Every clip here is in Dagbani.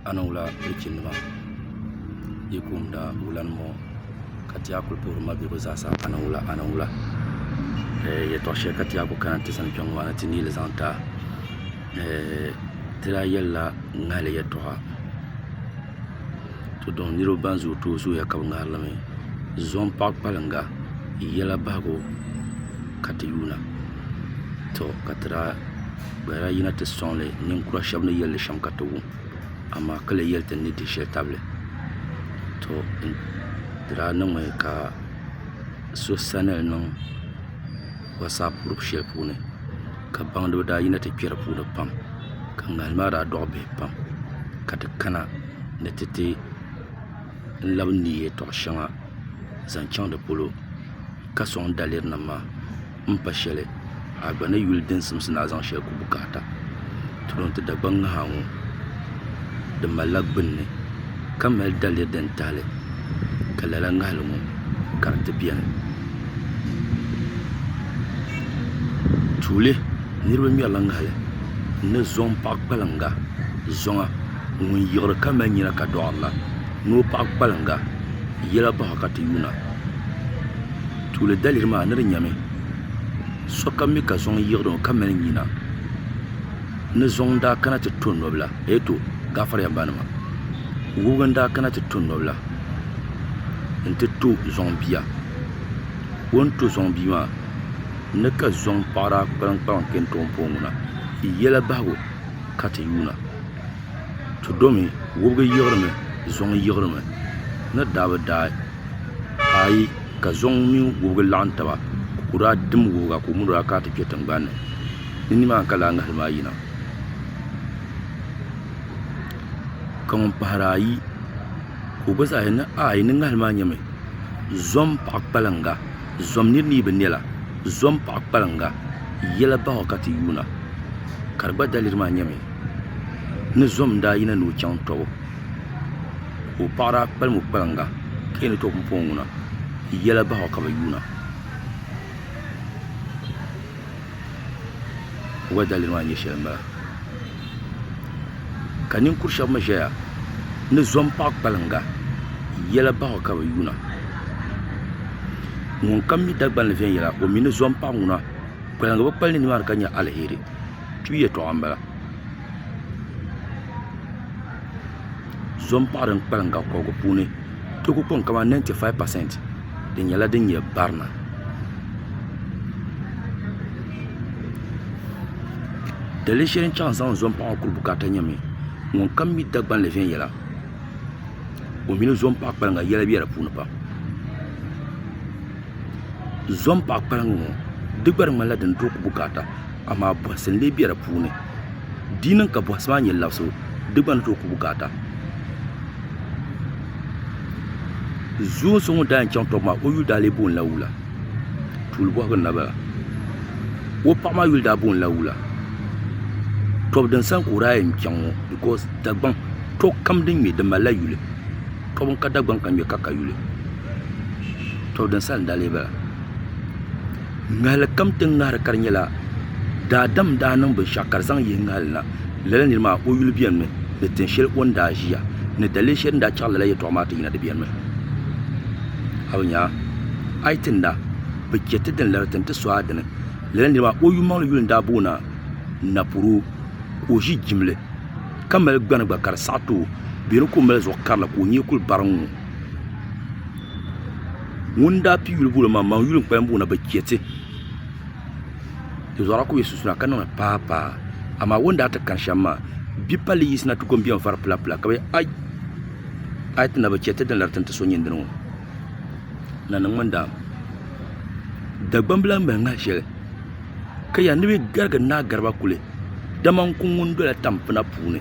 a ni wula pilichinnima yi kumda wulanima ŋɔ ka ti yaa kuli puhiri ma be bɛ zaa sa a ni wula a ni wula ɛɛh yɛltɔɣ shɛli ka ti yaa kuli kana ti sani kpɛŋɔ maa ni ti neei li zaŋ ti a ɛɛh ti daa yɛlila ŋahili yɛltɔɣa to dɔn niriba ban zooi tooi zooya ka bɛ ŋahiri li mi zuɣu m-paɣi kpaliŋga yɛla bahigu ka ti yuuna tɔ ka ti daa Bala yi na ti sɔŋ li ninkura shɛba ni yɛli li shɛm ka ti wum, amaa ka lee yɛli ti ni di shɛli tabili. To n daa niŋmi ka so sani n niŋ WhatsApp group shɛli puuni ka baŋdiba daa yina ti kpɛ di puuni pam ka ŋahin maa daa dɔɣi bihi pam ka ti kana ni ti ti labi n-neei yɛltɔɣa shɛŋa zaŋ chaŋ di polo ka sɔŋ daliri nim maa. n pa shɛli a gba ni yuli din simsi ni a zaŋ shɛli ku bukaata ti bɔŋ ti Dagbaŋ ŋaha ŋɔ di malila gbunni ka mali daliya din tahali ka lala ŋahali ŋɔ ka di ti bɛni tuuli niraba ŋmɛrila ŋahali ni zuŋ paɣa kpalaŋa zuŋa ŋun yiɣiri ka mali nyina ka doɣari la ni o paɣa kpalaŋa yɛla baɣa ka ti yuuna Tuuli daliri maa ni di nyɛmi sokam mi ka zuŋ yiɣiri o ka mali nyina ni zuŋ n-daa kana ti to nɔbila eeto gaafariya m ba nima wubiga n-daa kana ti to nɔbila n-ti to zuŋ bia o ni to zuŋ bia maa ni ka zuŋ paɣa daa kpalim kpalim kpe n-ti o ni pɔŋ ŋuna yɛla bahigu ka ti yuuna ti domi wubiga yiɣiri mi zuŋ yiɣiri mi ni daa bi daai. ka ayi ka zuŋ mini wɔbigu laɣim taba ka kɔdu daa dim wɔbiga ka o mi o daa kana ti kpe tingbani ni di ni maa ka lala ŋahili maa yina ka ŋun pahiri ayi ka o gba zaa yɛli ni a yi ni ŋahili maa nyami zom paɣa kpaliŋga zom niri ni yi bi ne la zom paɣa kpaliŋga yɛla baŋɔ ka ti yuuna ka di gba daliri maa nyami ni zom daa yina ni o chaŋ tɔbu. ka o paɣiri a kpalimi o kpalaŋa ka yɛn tɔɣi pumpɔŋɔ ŋuna yɛla bahi o ka bi yuuna ka o gba daliri maa nyɛ shɛli m-bala ka ninkur' shɛba mi ʒeya ni zom paɣi kpalaŋa yɛla bahi o ka bi yuuna ŋun kam mi dagbani ni viɛnyɛla o mi ni zom paɣi ŋuna kpalaŋa bi kpali ni nimaani ka nya aliheri tuya yɛtɔɣa m-bala so n paɣiri n kpalim ka kobigu puuni ti ku kpiŋ ka mani 95% di nyɛla din nyɛ barina dali shɛli n chaŋ zaŋ so n paɣi kuli bukata nyɛmi ŋun kam mi Dagbanli viɛnyɛla o mini so n paɣi kpaliŋa yɛla bɛ di puuni pam so n paɣi kpaliŋa ŋɔ di gba di ŋmanila din tooi ku bukata amaa bɔhisi n-lee be di puuni di yi niŋ ka bɔhisi maa nyɛ labisi o di gba ni tooi ku bukaata zuun so ŋun daa yɛn chaŋ tɔbu maa o yuli daa lee booni la wula tuuli bɔhigu n-na bala o paɣa maa yuli daa booni la wula tɔbu din sani ka o daa yɛn chaŋ ŋɔ bikɔs Dagbaŋ tɔbu kam din ŋme di mali la yuli tɔbu n-ka Dagbaŋ ka ŋme ka ka yuli tɔbu din sani n-daa lee bala. Ŋahili kam ti ni ŋahiri ka di nyɛla daadam n daa niŋ binshɛɣu ka di zaŋ yihi ŋahili na lala niri maa o yuli beni mi ni tin shɛli o ni daa ʒiya ni daliri shɛli din daa chaɣiri lala yɛltɔɣa maa ti yina di beni mi a bi nya a yi tinda bi che ti dini la di tin ti so a dini lala niri maa o yummaŋli yuli n daa boona napuro ka o ʒi jimli ka mali gbani gba ka di saɣi ti o bɛ ni ka o mali zuɣu karili ka o nyee kuli bari n ŋɔ. ŋun daa pii yuli booni maa maŋ yuli n kpalim boona bi chɛ ti zuɣa ku bɛ sunsuuna ka niŋli paa paa amaa o ni daa ti kani shɛm maa bia palli yiɣisi na ti ko n biɛni vari pula pula ka bi yɛli ai a yi ti na bi chɛ ti din lari ti ni ti so nyini dini ŋɔ na niŋmi n daam Dagbaŋ bila n mali ŋa shɛli ka yɛli ni bi garigi Naa Garba Kuli dama n ku ŋun dola tampina puuni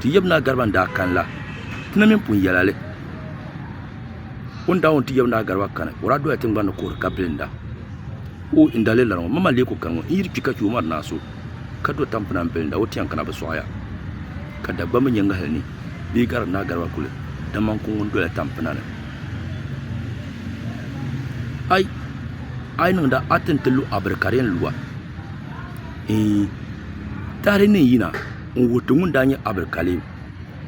ti yaba naa Gariba n-daa kani la ti na mini pun yɛla li o ni daa wum ti yaba naa Gariba kani o daa dola tiŋgbani ni kuhiri ka bilinda o n dali lala ŋɔ mama leei ku kani ŋɔ n yiri kpi ka che o mari naa so ka do tampina m-bilinda o ti yɛn kana bi sɔɣi ya ka Dagbamba mi nyɛ ŋahili ni bee Gariba naa Gariba kuli dama n-ku ŋun dola tampina ni a yi niŋda a ti ni ti lu a biri ka di yɛn lu a. Eei! Tahili ni n yina n wuhi ti ŋun daa nyɛ Abdul Kalim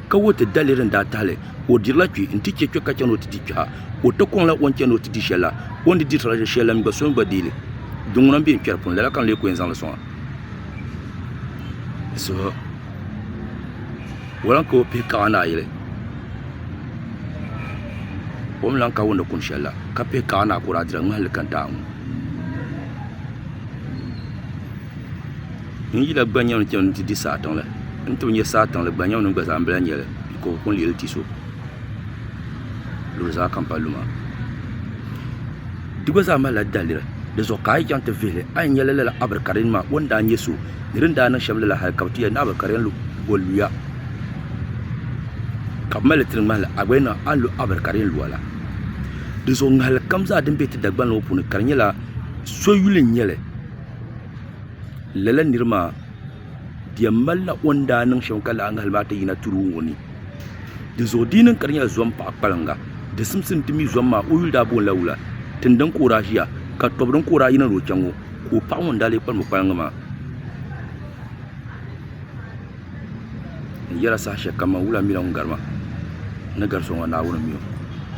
ka wuhi ti daliri ni daa tahili o dirila kpee n ti che kpe ka chani o ti di kpeha o ti koŋ la o ni chani o ti di sheli la o ni di dirila sheli la mi gba so mi gba deei li di ŋuna m be n kperi puuni lala ka n lee ku yen zaŋli soŋa wala ka o pihi kaɣa ni a yili o mi lan ka wunde kum sheli la ka pihi kaɣa ni a ku daa dirila ŋmahili ka n ti a ŋɔ. N yila gba nyɛmi n chani ti di saa tiŋli n ni tooi nya saa tiŋli gba nyɛmi ni n gba zaa n bɛla nyɛli ka o kuli leei ti so luzaa kam palli maa di gba zaa malila daliri di zuɣu ka a yi chaŋ ti vihili a ni nya lala abirikarin maa o ni daa nya so ni di ni daa niŋ shɛm lala hali ka bɛ ti yɛli ni abirikarin lu o luya ka bɛ malili tiri ŋmahili a gba yɛn niŋ a ni lu abirikarin luya la di zuɣu ŋahilikam zaa din be ti Dagbanli ŋɔ puuni ka di nyɛla So yuli n nyɛli lala niri maa di yɛn malila o ni daa niŋ shɛm ka lahi ŋahali maa ti yina tiro ŋɔ ni dinzuɣu di yi niŋ ka di nyɛla zom paɣa kpaliŋga di simsim ti mi zom maa o yuli daa boonila wula tindini ka o daa ʒiya ka tobu din ka o daa yina ni o chɛ ŋɔ ka o paɣa ŋɔ ni daa lee kpalim o kpaliŋga maa n yɛla saha shɛli kam maa wula n mila ŋun gari ma ni gari so maa Naawuni n mi o